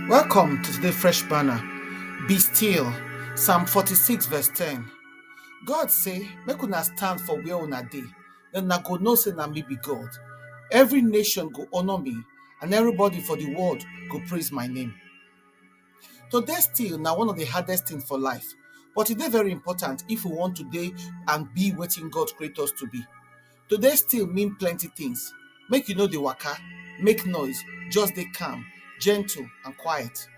Welcome to today's fresh banner. Be still. Psalm 46, verse 10. God say, Make una stand for where una dey, then na go know say na me be God. Every nation go honor me, and everybody for the world go praise my name. To dey still na one of the hardest things for life, but e dey very important if we want to dey and be wetin God create us to be. to dey still mean plenty things make you no dey waka make noise just dey calm gentle and quiet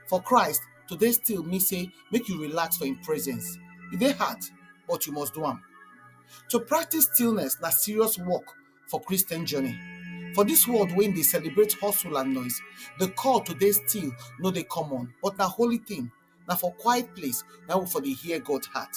for Christ to dey still mean say make you relax for him presence e dey hard but you must do am to practice stillness na serious work for Christian journey for this world wey dey celebrate hustle and noise the call to dey still no dey common but na holy thing na for quiet place na we for dey hear God heart.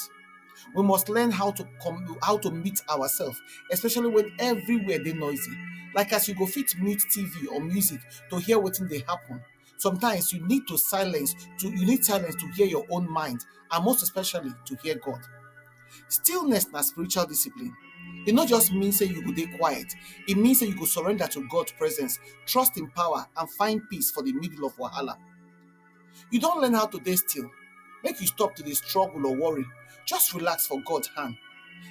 We must learn how to come how to mute ourselves, especially when everywhere dey noisy. Like as you go fit mute TV or music to hear wetin dey happen. Sometimes you need to silence to you need silence to hear your own mind and most especially to hear God. Stillness na spiritual discipline. E no just mean say you go dey quiet, e mean say you go surrender to God presence, trust im power and find peace for the middle of wahala. You don learn how to dey still? Make you stop to dey struggle or worry, just relax for God hand.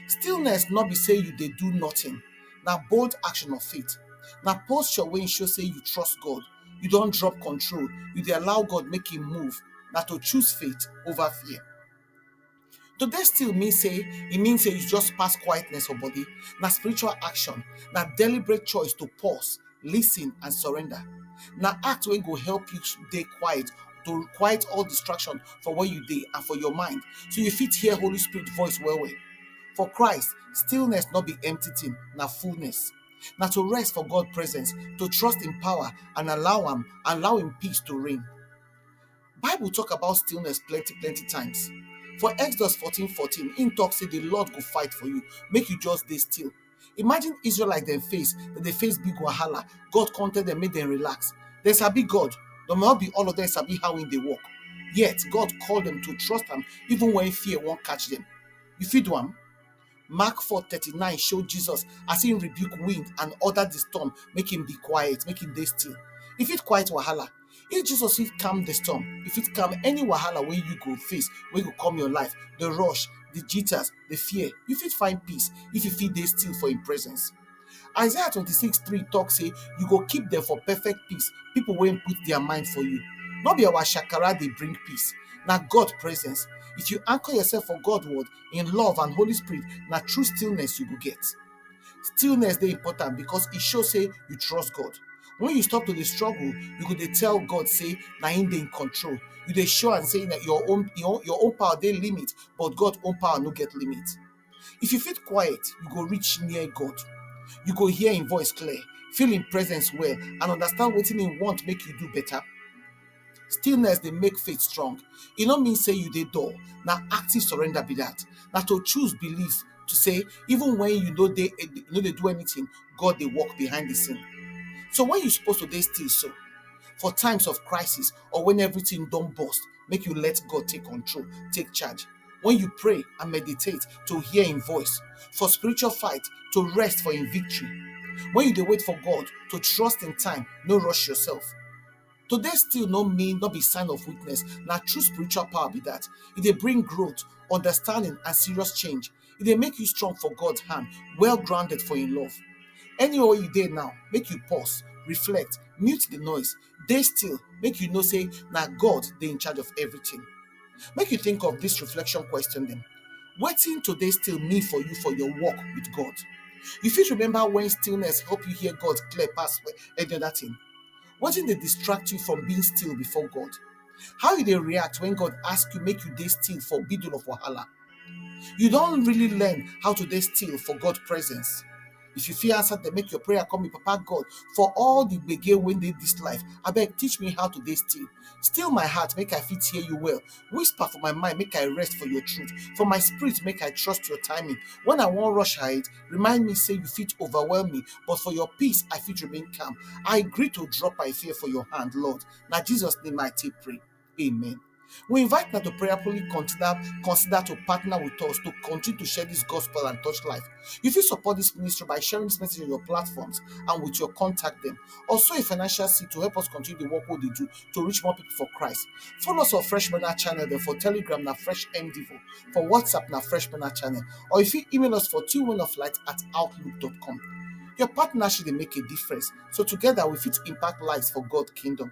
Stillness no be sey you dey do nothing, na bold action of faith. Na posture wey show sey you trust God, you don drop control, you dey allow God make im move, na to choose faith over fear. To dey still mean say e mean say you just pass quietness for body. Na spiritual action, na deliberate choice to pause, listen and surrender. Na act wey go help you dey quiet, to quiet all distraction for where you dey and for your mind so you fit hear Holy Spirit voice well well. For Christ, stillness no be empty thing, na fullness. Na to rest for God presence, to trust im power and allow am, allow im peace to reign. Bible talk about stillness plenty plenty times. For Exodus 14 14, im talk say the Lord go fight for you, make you just dey still. Imagine Israelite dem face, dem dey face big wahala. God come tell dem make dem relax. Dem sabi God, but not be all of them sabi how im dey work. Yet God call dem to trust am even when fear wan catch dem. You fit do am? Mark 4:39 show Jesus as he rebuke wind and order the storm, make him be quiet, make him dey still. If it quiet wahala, if Jesus fit calm the storm, if it calm any wahala wey you go face, wey go come your life, the rush, the jitters, the fear, you fit find peace if you fit dey still for him presence. Isaiah 26 3 talk say, You go keep them for perfect peace, people wey put their mind for you. No be our shakara dey bring peace, na God presence. If you anchor yourself for God word, in love and Holy Spirit, na true stillness you go get. Stillness dey important because e show say you trust God. When you stop to dey struggle, you go dey tell God say na him dey in control. You dey show am say na your own your own your own power dey limit, but God own power no get limit. If you fit quiet, you go reach near God. You go hear im voice clear, feel im presence well, and understand wetin im want make you do better. Stillness dey make faith strong. E no mean say you dey dull, na active surrender be that. Na to choose belief to say even when you no dey you no dey do anything, God dey work behind the scene. So when you suppose to dey still so? For times of crisis or when everything don burst? make you let God take control, take charge. When you pray and meditate to hear in voice, for spiritual fight to rest for in victory. When you dey wait for God to trust in time, no rush yourself. Today still no mean no be sign of weakness. Na true spiritual power be that. It dey bring growth, understanding, and serious change. e dey make you strong for God hand, well grounded for im love. Anywhere wey you dey now, make you pause, reflect, mute di noise, dey still make you know sey na God dey in charge of everything. Make you think of dis reflection question dem, wetin to dey still mean for you for your walk with God? You fit remember wen stillness help you hear God clear pass any other thing? Wetin dey distract you from being still before God? How you dey react wen God ask you make you dey still for middle of wahala? You don really learn how to dey still for God presence? If you fit answer dem, make your prayer come be, Papa God, for all the gbege wey dey this life, abeg teach me how to dey still. Still my heart, make I fit hear you well. Whisper for my mind, make I rest for your truth. For my spirit, make I trust your timing. When I wan rush ahead, remind me say you fit overwhelm me, but for your peace, I fit remain calm. I agree to drop my fear for your hand, Lord. Na Jesus name I take pray. Amen. We invite now to prayerfully consider consider to partner with us to continue to share this gospel and touch life. You fit support this ministry by sharing this message on your platforms and with your contact them. Also, a financial seed to help us continue the work we dey do to reach more people for Christ. Follow us on Fresh Manna channel there for Telegram na Fresh MDivo, for WhatsApp na Fresh Manna channel, or you fit email us for twomenoflight at outlook.com. Your partnership dey make a difference, so together we fit impact lives for God kingdom.